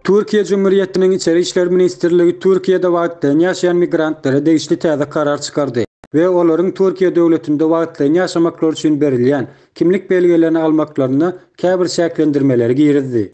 Türkiýe Jumhuriyetiniň Içeri işler ministrligi Türkiýede wagtlaýyn ýaşaýan migrantlara degişli täze karar çykardy we olaryň Türkiýe döwletinde wagtlaýyn ýaşamaklary üçin berilýän kimlik belgelerini almaklaryna käbir çäklendirmeleri girizdi.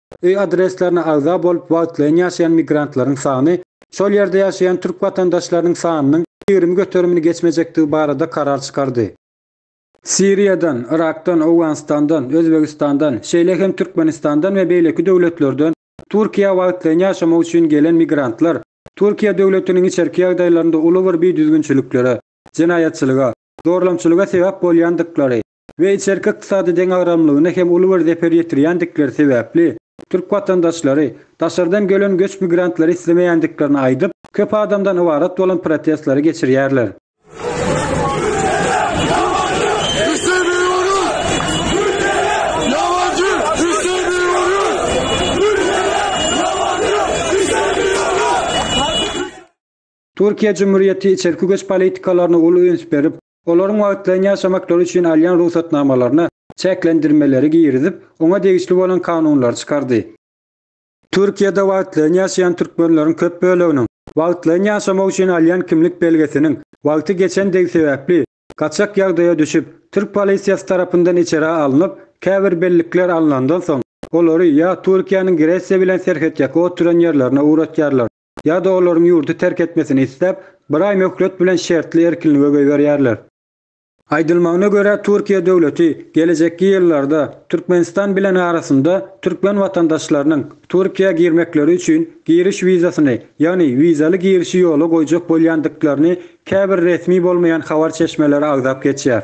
Öý adreslerine agza bolup wagtlaýyn ýaşaýan migrantlaryň sany şol ýerde ýaşaýan türk watandaşlarynyň sanynyň ýigrimi göterimini geçmejekdigi barada karar çykardy. Siriýadan, Yrakdan, Owganystandan, Özbegistandan, şeýle hem Türkmenistandan we beýleki döwletlerden Türkiýä wagtlaýyn ýaşamak üçin gelen migrantlar Türkiýe döwletiniň içerki ýagdaýlarynda uly bir bidüzgünçiliklere, jenaýatçylyga, zorlamçylyga sebäp bolýandyklary, we içerki ykdysady deňagramlygyna hem uly bir zeper ýetirýändikleri sebäpli, türk watandaşlary, daşardan gelen göç migrantlary islemeýändiklerini aýdyp, köp adamdan ybarat bolan protestleri geçirýärler. Türkiýe Cumhuriyeti içerki göç politikalaryna uly üns berip, olaryň wagtlaýyn ýaşamaklary üçin alýan rugsatnamalaryna çäklendirmeleri girizip, oňa degişli bolan kanunlary çykardy. Türkiýede wagtlaýyn ýaşaýan türkmenleriň köp böleginiň wagtlaýyn ýaşamak üçin alýan kimlik belgesiniň wagty geçendigi sebäpli, gaçak ýagdaýa düşüp, türk polisiýasy tarapyndan içerä alnyp, käbir bellikler alnandan soň, olary ýa Türkiýäniň Gresiýa bilen serhetýaka oturan ýerlerine ugratýarlar, ýa-da olaryň ýurdy terk etmesini isläp, bir aý möhlet bilen şertli erkinlige goýberýärler. Aýdylmagyna görä, Türkiýe döwleti gelejekki ýyllarda Türkmenistan bilen arasynda türkmen watandaşlarynyň Türkiýä girmekleri üçin giriş wizasyny, ýagny wizaly girişi ýola goýjak bolýandyklaryny käbir resmi bolmaýan habar çeşmeleri agzap geçýär.